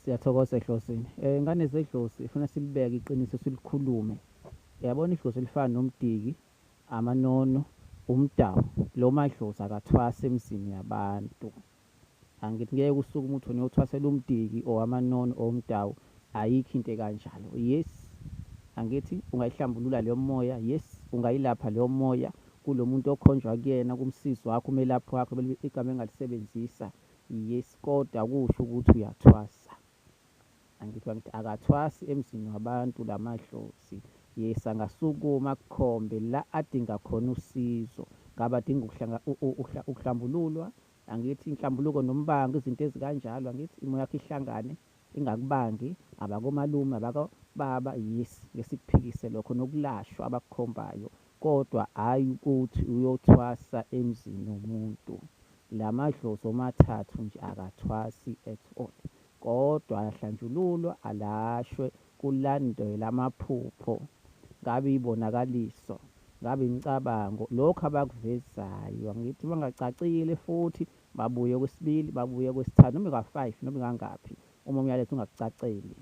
siyathokoza edlozini um eh, ngane zedlozi ifuna silibeke iqiniso silikhulume yabona idlozi elifana nomdiki amanono umdawu lo madlozi akathwasa emzini yabantu angithi ngeke usuke umuntu niyothwasela umdiki or amanono or umdawu ayikho into ekanjalo yes angithi ungayihlambulula leyo moya yes ungayilapha leyo moya kulo muntu okhonjwa kuyena kumsizi wakho umelaphi wakho igama engalisebenzisa Yes kodwa kusho ukuthi uyathwasa. Angithi bangithi akathwasi emzini wabantu la madlozi. Yes angasukuma akukhombe la adinga khona usizo. Ngabe adinga ukuhlambululwa, angithi inhlambuluko nombango, izinto ezikanjalo, angithi imo yakho ihlangane ingakubangi, abakomalume, abakobaba, yes, ngeke sikuphikise lokho, nokulashwa abakukhombayo Kodwa ayi ukuthi uyothwasa emzini womuntu. Lamadlozi omathathu nje akathwasi at all. Kodwa ayahlanjululwa alashwe kulandelwe amaphupho. Ngabe ibonakaliso. Ngabe imicabango. Lokhu abakuvezayo. Angithi mangacacile futhi babuye okwesibili babuye okwesithathu noma ika five noma ikangaphi uma umyalezo ungakucaceli.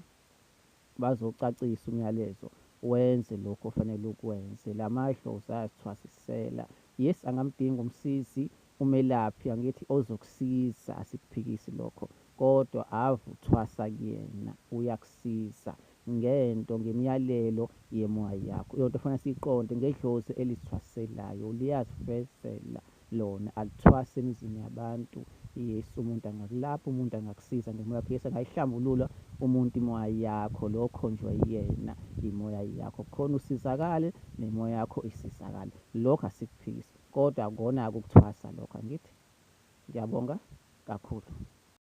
bazocacisa umyalezo wenze lokho ofanele ukwenze la madlozi ayasithwasisela yes angamdinga umsizi umelaphi angithi ozokusiza asikuphikisi lokho kodwa ave uthwasa kuyena uyakusiza ngento ngemiyalelo yemoya yakho yonto fanele siyiqonde ngedlozi elisithwaselayo liyazifezela lona alithwasi emizini yabantu yes umuntu angakulapha umuntu angakusiza ngemoya yakho yes angayihlambulula umuntu imoya yakho lo okhonjwa yena imoya yakho khona usizakale nemoya yakho isizakale lokho asikuphikisi kodwa kona ukuthwasa lokho angithi ngiyabonga kakhulu